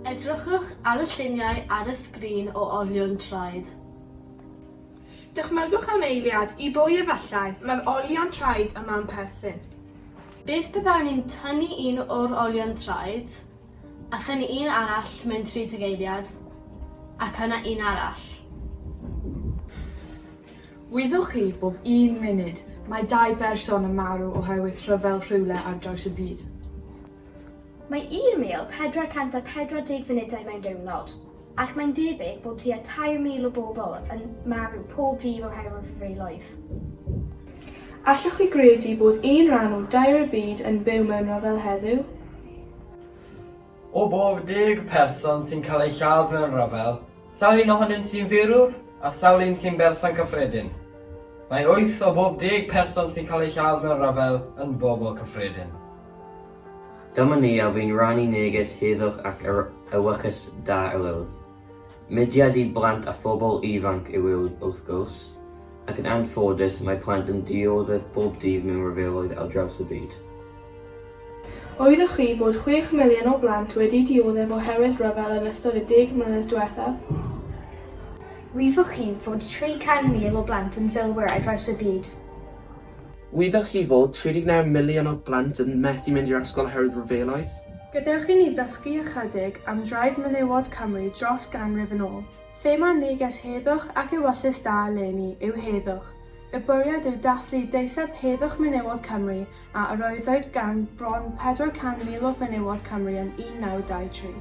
Edrychwch ar y lluniau ar y sgrin o olion traed. Dychmygwch am eiliad i bwy efallai mae'r olion traed yma'n perthyn. Beth pe bawn i'n tynnu un o'r olion traed, a thynnu un arall mewn 30 eiliad, ac yna un arall? Wyddoch chi, bob un munud, mae dau berson yn marw oherwydd rhyfel rhywle ar draws y byd. Mae 1,440 funudau mewn diwrnod, ac mae'n debyg bod tua 3,000 o bobl yn marw pob dydd oherwydd rhyfeloedd. Allwch chi gredu bod un rhan o dair y byd yn byw mewn rhyfel heddiw? O bob deg person sy'n cael eu lladd mewn rhyfel, sawl un ohonynt sy'n firwr a sawl un sy'n berson cyffredin? Mae wyth o bob deg person sy'n cael eu lladd mewn rhyfel yn bobl cyffredin. Dyma ni a fu'n rhannu neges heddwch ac ewyllys da yr Urdd. Mudiad i blant a phobl ifanc yw e wrth gwrs, ac yn anffodus mae plant yn dioddef bob dydd mewn rhyfeloedd ar draws y byd. Oeddech chi fod chwech miliwn o blant wedi dioddef oherwydd rhyfel yn ystod y deg mlynedd diwethaf? Oeddech chi fod 300,000 o blant yn filwyr ar draws y byd? Wyddoch chi fod 39 miliwn o blant yn methu mynd i'r ysgol oherwydd rhyfeloedd? Gadewch i ni ddysgu ychydig am draed menywod Cymru dros ganrif yn ôl. Thema neges Heddwch ac Ewyllys Da eleni yw Heddwch. Y bwriad yw dathlu deiseb heddwch menywod Cymru a arwyddwyd gan bron 400,000 o fenywod Cymru yn 1923.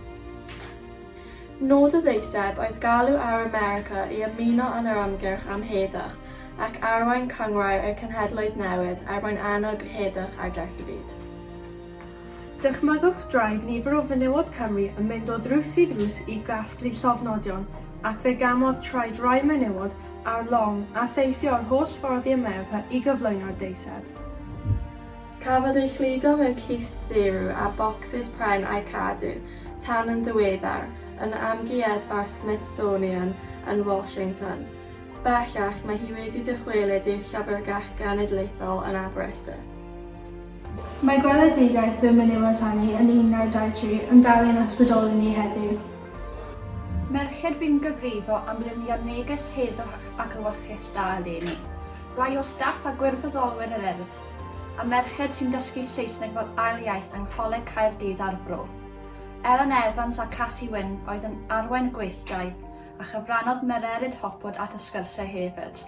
Nod y ddeiseb oedd galw ar America i ymuno yn yr ymgyrch am heddwch ac arwain cynghrair y Cenhedloedd Newydd er mwyn annog heddwch ar draws y byd. Dychmygwch draed nifer o fenywod Cymru yn mynd o ddrws i ddrws i gasglu llofnodion, ac fe gamodd traed rai menywod ar long a theithio yr holl ffordd i America i gyflwyno'r deiseb. Cafodd ei chludo mewn cist dderw a bocsys pren a'u cadw tan yn ddiweddar yn Amgueddfa'r Smithsonian yn Washington. Bellach, mae hi wedi dychwelyd i'r Llyfrgell Genedlaethol yn Aberystwyth. Mae gweledigaeth ddim yn ei watanu yn 1923 yn dal ein ysbrydoli ni heddiw. Merched fu'n gyfrifo am lunio neges heddwch ac ewyllys da eleni. Rai o staff a gwirfoddolwyr yr Urdd Gymraeg. A merched sy'n dysgu Saesneg fel ail iaith yng Ngholeg Caerdydd a'r Fro. Ellen Evans a Casi Wyn oedd yn arwain y gweithdai, a chyfrannodd Mererid Hopwood at y sgyrsiau hefyd.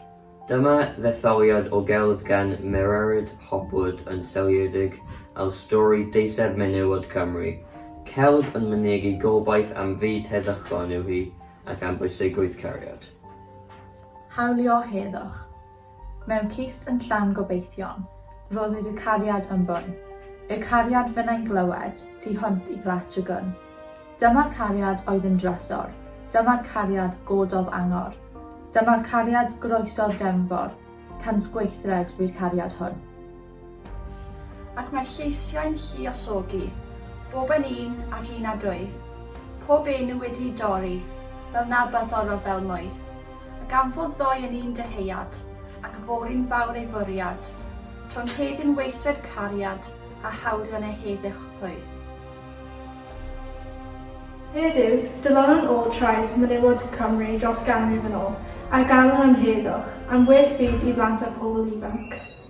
Dyma ddetholiad o gelf gan Mererid Hopwood yn seiliedig ar stori deiseb menywod Cymru. Celf yn mynegi gobaith am fyd heddychlon yw hi, ac am bwysigrwydd cariad. Hawlio heddwch. Mewn cist yn llawn gobeithion. Rhoddid y cariad am fwn. Y cariad fynnai'n glywed. Tu hwnt i gletch y gwn. Dyma'r cariad oedd yn drysor. Dyma'r cariad gododd angor. Dyma'r cariad groesodd gefnfor. Cant gweithred fu'r cariad hwn. Ac mae'r lleisiau'n lluosogi, bob yn un ac un a dwy, pob enw wedi'i dorri, fel na byddorol fel mwy. Ac am fod ddoe yn un dyheuad, ac y fory'n fawr ei fwriad, tro'n heddiw'n weithred cariad, a hawlio'n ei heddych hwy. Heddiw, dylanwn ôl traed menywod Cymru dros ganrif yn ôl, a galwn am heddwch, am well byd i blant a phobl ifanc.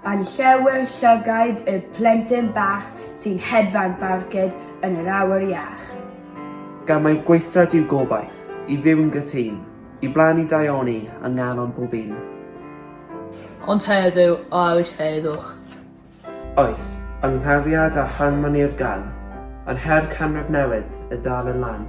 Yn llawer llygaid y plentyn bach sy'n hedfan barcud yn yr awyr iach. Gan mai gweithred yw gobaith, i fyw yn gytun, i blannu daioni yng nghalon pob un. Ond heddiw, a oes heddwch? Oes, yng nghariad a harmoni'r gan, yn her canrif newydd y ddal yn lan.